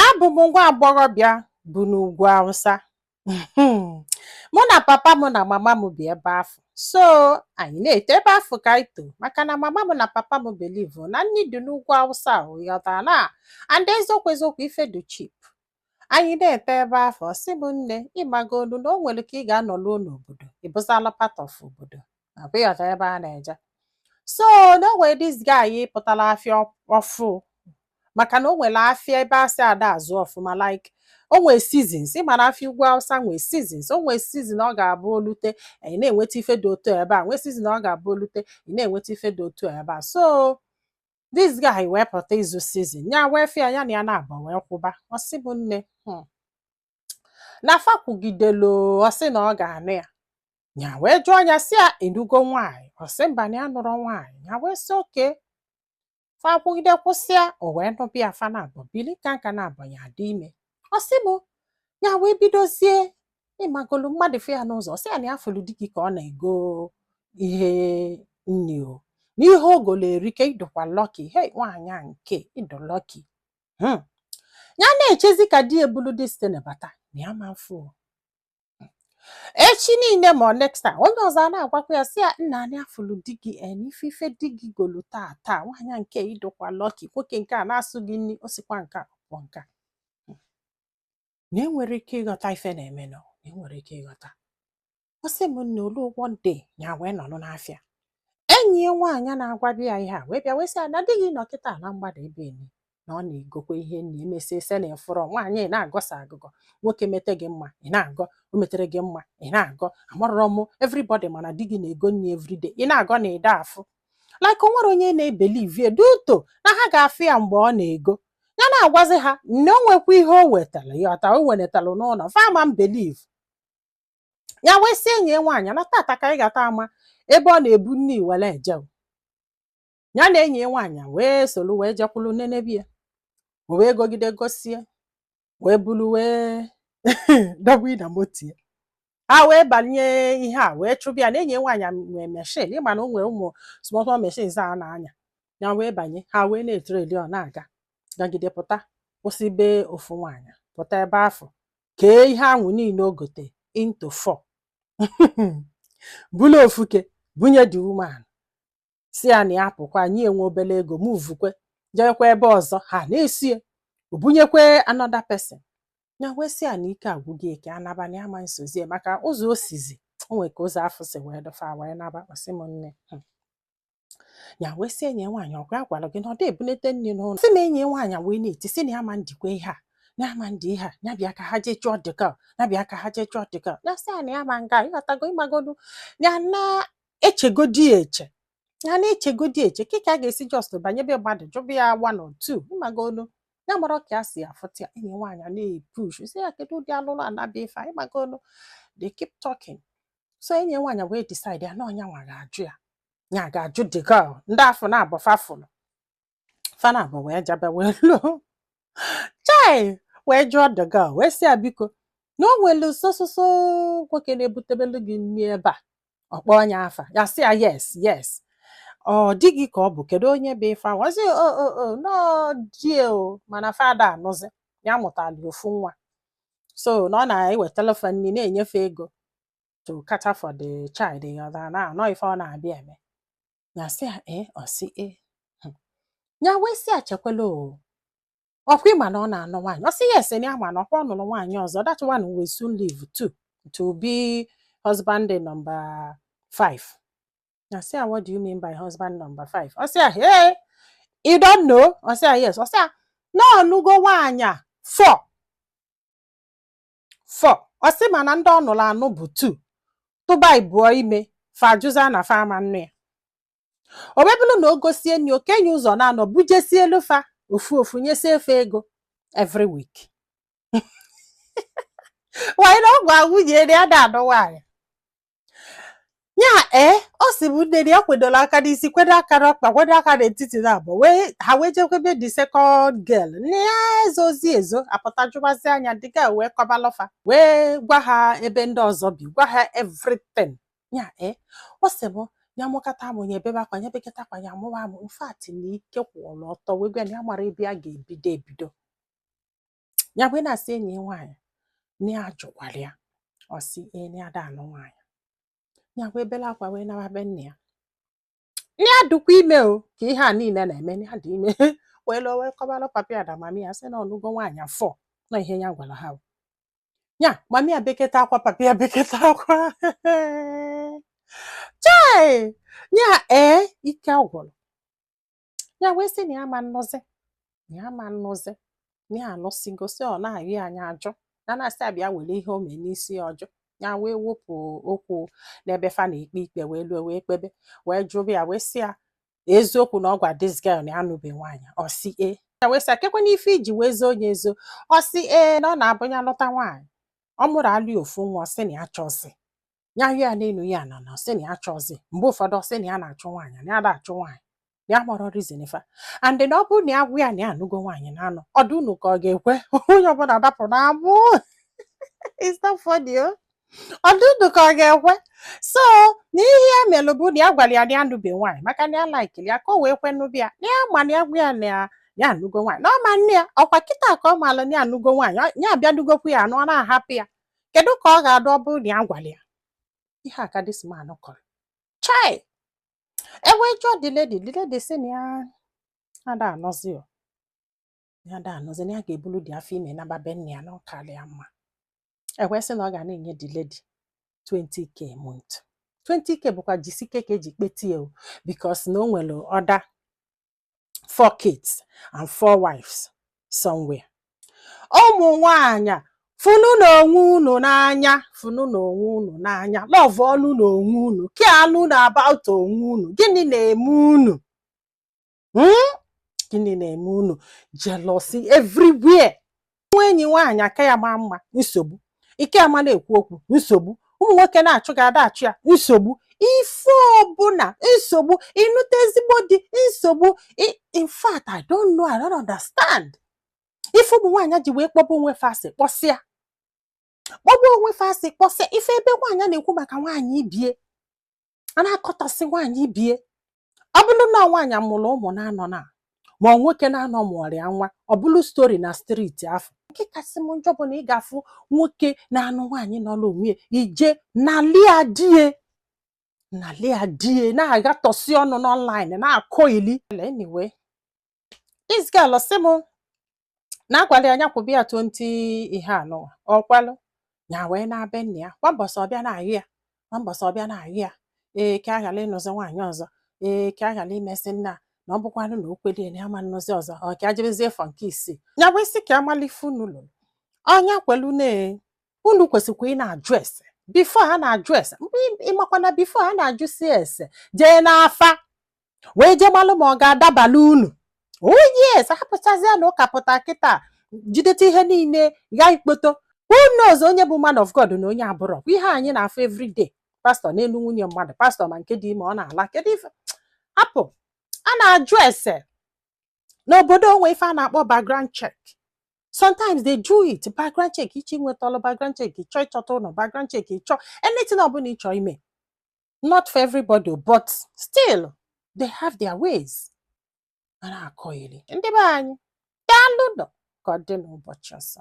Abụ m nwa agbọghọbịa bu n'ugwu Awụsa. Mụ na papa m na mama m bi ebe afụ. So anyị na-eto ebe afụ ka anyị too maka na mama m na papa m believe na nni dị n'ugwu Awụsa ị ghọtara na and eziokwu eziokwu ife dị cheap. Anyị na-eto ebe afụ ọ sị m nne ị magolu na o nwere ka ị ga-anọruo n'obodo ị bụzala part of obodo. akwa ị ghọta ebe a na-eje so na o nwere this guy pụtara afịa ọfụụ maka na o nwere afịa ebe asị ada azụ ọfụma like o nwee seasons ị ma na afịa ugwu awụsa nwee seasons o nwee season ọ ga-abụ o lute ị na-enweta ife dị otu ebe a nwee season ọ ga-abụ o lute ị na-enweta ife dị otu ebe a so this guy wee pụta ịzụ season ya wee fụ ya ya na ya naabọ wee kwuba ọ sị bụ nne hmm, na fa kwugidelu ọ sị na ọ ga-anụ ya ya wee jụọ ya sị ya ị nụgo nwaanyị ọ sị mba na ya anụrọ nwaanyị ya wee sị okay fa kwugide kwusịa o wee nụba ya fa naabọ bili ka nka naabọ ya dị ime ọ sị mụ ya wee bidozie ị magolu mmadụ fụ ya n'ụzọ ọ sị ya na ya fụrụ di gị ka ọ na-ego ihe nni o n'ihe o golu erika ị dụkwa lucky hei nwaanyị a nke ị dụ lucky hmm. ya na-echezi ka di ya bulu this thing bata na ya ama mfụ echi niile ma next time onye ọzọ a na-agwakwa ya sị ya nna anyị afụlụ di gị n'ife ife di gị golu taa taa nwaanyị nke ị dụkwa lucky nwoke nke a na-azụ gị nri o sikwa nke a pụ nke a na enwerọ ike ịghọta ife na-eme na enwerọ ike ịghọta ọ sị m nne o lu one day ya wee nọlụ n'afịa enyi ya nwaanyị na-agwabu ya ihe a wee bịa wee sị ya na di gị nọ kịta na mgbada ebe enyi na ọ na-egokwa ihe nna emesịa ị sị na ị fụrọ nwaanyị ị na-agọsa agụgọ nwoke mete gị mma ị na-agọ o metere gị mma ị na-agọ amarọrọ m everybody ma na di gị na-ego nri everyday ị na-agọ na ị da afụ like o nwerọ onye na-ebelieve due to na ha ga-afụ ya mgbe ọ na-ego ya na-agwazi ha na o nwekwa ihe o wetara ya ọta o wenatara n'ụlọ fa ama mbelieve ya wee sị enyi ya nwaanyị na tata ka anyị ga-ata ama ebe ọ na-ebu nni were eje o. ya na enyi ya nwaanyị wee soro wee jekwuru nenebe ya o wee gogide gosịa wee bulu wee dọgbu na moto ya ha wee banye ihe a wee chụba ya ya na enyi ya nwaanyị a nwee machine ị ma na o nwere ụmụ small small machines a na-anya ya wee banye ha wee na-etrail ya ọ na-aga gagide pụta kwụsị be ofu nwaanyị pụta ebe afụ kee ihe ahụ niile o gote into four bulu ofu oke bunye the woman sị ya na ya pụkwa nye ya nwa obere ego movekwa jewekwa ebe ọzọ ha na-eso ya o bunyekwa another person ya wee sị ya na ike agwụgo ya ka a naba na ama nsozi ya maka ụzọ o sizi o nwere ka ụzọ afụ si wee dụ fa wee naba ọ sị m nne "Hmm, ya wee sị enyi nwaanyị ọkwa ya gwara gị na ọ dị ebunete nri n'ụlọ sị na enyi nwaanyị wee na-eti sị na ya ma ndikwa ihe a na ya ma ndi ihe a ya bịa ka ha jee chọọ the girl ya bịa ka ha jee chọọ the girl ya sị ya na ya ma nga ịghọtago ịmagodu ya na echegodi ya eche ya na echegodi eche ka ka a ga-esi just banye be mmadụ jụba ya one or two ịmagodu ya amara ka ya si afụta ya enyi nwaanyị a na-epush sị ya kedu ụdị alụlụ ana bụ ife a ịmagodu they keep talking so enyi nwaanyị wee decide ya na ọ nya nwa ga-ajụ ya ya ga-ajụ the girl ndị afụ naabọ fa fụlụ fa naabọ wee jebe wee luo chai wee jụọ the girl wee sị ya biko na o nwere so so so nwoke na-ebutebelu gị nri ebe a ọ kpọọ onye afa ya sị ya yes yes ọ di gị ka ọ bụ kedu onye bụ ife ahụ ọ sị o o o na ọ di ya o mana fa ada anụzi ya mụtalụ ofu nwa so na ọ na-ewetala fa nri na-enye fa ego to cater for the child ya na ọ ife ọ na-abịa eme ya sị ya ee ọ sị ee Hmm. ya wee sị ya chekwala o ọkwa ị ma na ọ na-anụ nwaanyị ọ sị yes na ya ma na ọkwa ọ nụrụ nwaanyị ọzọ that one will soon leave too to be husband number five ya sị ya what do you mean by husband number five ọ sị ya hey you don't know ọ sị ya yes ọ sị ya na ọ nụgo nwaanyị four four ọ sị mana ndị ọ nụrụ anụ bụ two tụba ibụọ ime fa ajụzia na fa ama nnụ ya o wee bụrụ na o gosie nri o kenye ụzọ naanọ bujesielu fa ofu ofu nyesie fa ego every week nwaanyị na ọgwụ agwụ ji eri ada anụ nwaanyị ya ee eh, ọ sị bụ nne ya kwedolu aka n'isi kwedo aka n'ọkpa kwedo aka n'etiti naabọ wee ha wee jekwa be the second girl na ya ezozi ezo apụta jụbazia nya the girl wee kọbalụ fa wee gwa ha ebe ndị ọzọ bi gwa ha everything ya ee eh, ọ sị bụ ya mụkata amụ ya ebebe akwa ya beketa akwa ya amụwa amụ in fact na ike kwụrụ ọtọ wee gwa ya amara ebe a ga-ebido ebido ya wee na-asị enyi nwaanyị na ya jụkwara ya ọ sị na ya ada anụ nwaanyị ya wee bele akwa wee naba be nna ya na ya dụkwa ime o ka ihe a niile na-eme ya dị ime wee luo wee kọbara papi ya na mami ya sị na ọ nụgo nwaanyị four na ihe ya gwara ha ya mami ya beketa akwa papi ya beketa akwa chai ya ee ike agwụrụ ya wee sị na ya ma nnụzi na ya ma nnụzi na ya anụsịgo sị ọ na-ayịọ nya ajụ na na-asị ya bịa were ihe o mee n'isi ya ọ jụ ya wee wepụ okwu n'ebe fa na-ekpe ikpe wee lue wee kpebe wee jụba ya wee sị ya eziokwu na ọ gwa this girl na ya anụbe nwaanyị ọ sị e ya wee sị ya kekwanụ ife i ji wee zoo onye ezo ọ sị ee na ọ na-abụ ya lụta nwaanyị ọ mụalụ ya ofu nwa ọ sị na ya achọzi ya ya n'elu ya na na ọ sị na ya chọzi mgbe ụfọdụ ọ sị na ya na-achụ nwaanyị na ya na-achụ nwaanyị na ya amarọ reason fa and na ọ bụrụ na ya gwa ya na ya anụgo nwaanyị na anụ ọ dị unu ka ọ ga-ekwe onye ọbụla dapụ n'amụ It's not funny, oh. ọ dị unu ka ọ ga-ekwe so na ihe ya melụ bụ na ya gwara ya na ya nụbe nwaanyị maka na ya laikiri ya ka o wee kwe nụbe ya na ya ma na ya gwa ya na ya ya anụgo nwaanyị na ọ ma nnụ ya ọ kwa kịta ka ọ maala na ya anụgo nwaanyị ọ- ya abịa nụgokwu ya anụ ọ na-ahapụ ya kedu ka ọ ga-adị ọ bụrụ na ya gwara ya ihe a ka this man kọrọ chai e wee jụọ the lady the lady sị na ya ada anọzi o ya ada anọzi na ya ga-ebulu dị afọ ime naba be nne ya na ọ karị ya mma e wee sị na ọ ga na-enye the lady 20k a month 20k bụkwa jisike ka e ji kpetie o because na o nwere other four kids and four wives somewhere ụmụ nwaanyị fụnụ na onwe unu n'anya fụnụ na onwe unu n'anya lọvụọnụ na onwe unu keanụ na about onwe unu gịnị na-eme unu hmm? gịnị na-eme unu jealousy everywhere nwee enyi nwaanyị ị ka ya maa mma nsogbu ị ka ya ama na-ekwu okwu nsogbu ụmụ nwoke na-achụ gị ada achụ ya nsogbu ife ọbụla nsogbu ị nụta ezigbo di nsogbu I- in fact i don't know i don't understand ife ụmụ nwaanyị ji wee kpọba onwe fa asị kpọsịa kpọba onwe fa asị kpọsịa ị fụ ebe nwaanyị na-ekwu maka nwaanyị ibie a na-akọtọsị nwaanyị ibie ọ bụrụ na nwaanyị amụrụ ụmụ naanọ na ma nwoke naanọ mụọrịa nwa ọ bụrụ story na street afọ nke kasị m njọ bụ na ị ga-afụ nwoke na-anụ nwaanyị nọọrọ onwe ya ị je nalị ya di ya nalị ya di ya na-aghatọsị ọnụ n'online na-akọ ili anyway this girl sị m na a gwalụ ya na ya kwụbe ya 20 ihe anụwa ọkwalụ ya wee na-abịa nna ya kwa mbọsị ọ bịa na-ayọ ya kwa mbọsị ọ bịa na-ayọ ya ee ka ọ ghala ịnụzi nwaanyị ọzọ ee ka ọ ghala imesị nna na ọ bụkwanụ na o kwelie na ya ma nnụzi ọzọ ọ ka ajebezie for nke isii ya bụ isi ka a malụ ife unu lụrụ ọnya kwelu na unu kwesịkwa ịna-ajụ ese before a na-ajụ ese mgbe ị makwa na before a na-ajụsi ese jee n'afa wee jee malụ ma ọ ga-adabala unu o yes a hapụchazịa na ụka pụta kịta jideta ihe niile ga ikpoto who knows onye bụ man of God na onye abụrọ ihe anyị na-afụ everyday pastor n'elu nwunye mmadụ pastor ma nke dị ime ọ na-ala kedu ife hapụ a na-ajụ ese n'obodo o nwe ife a na-akpọ background check sometimes they do it background check ị chọ inweta ọlụ background check ị chọ ịchọta ụlọ background check ị chọ anything ọbụla ị chọ ime not for everybody o, but still they have their ways a na-akọ iri ndị be anyị daalụ nụ ka ọ dị n'ụbọchị ọzọ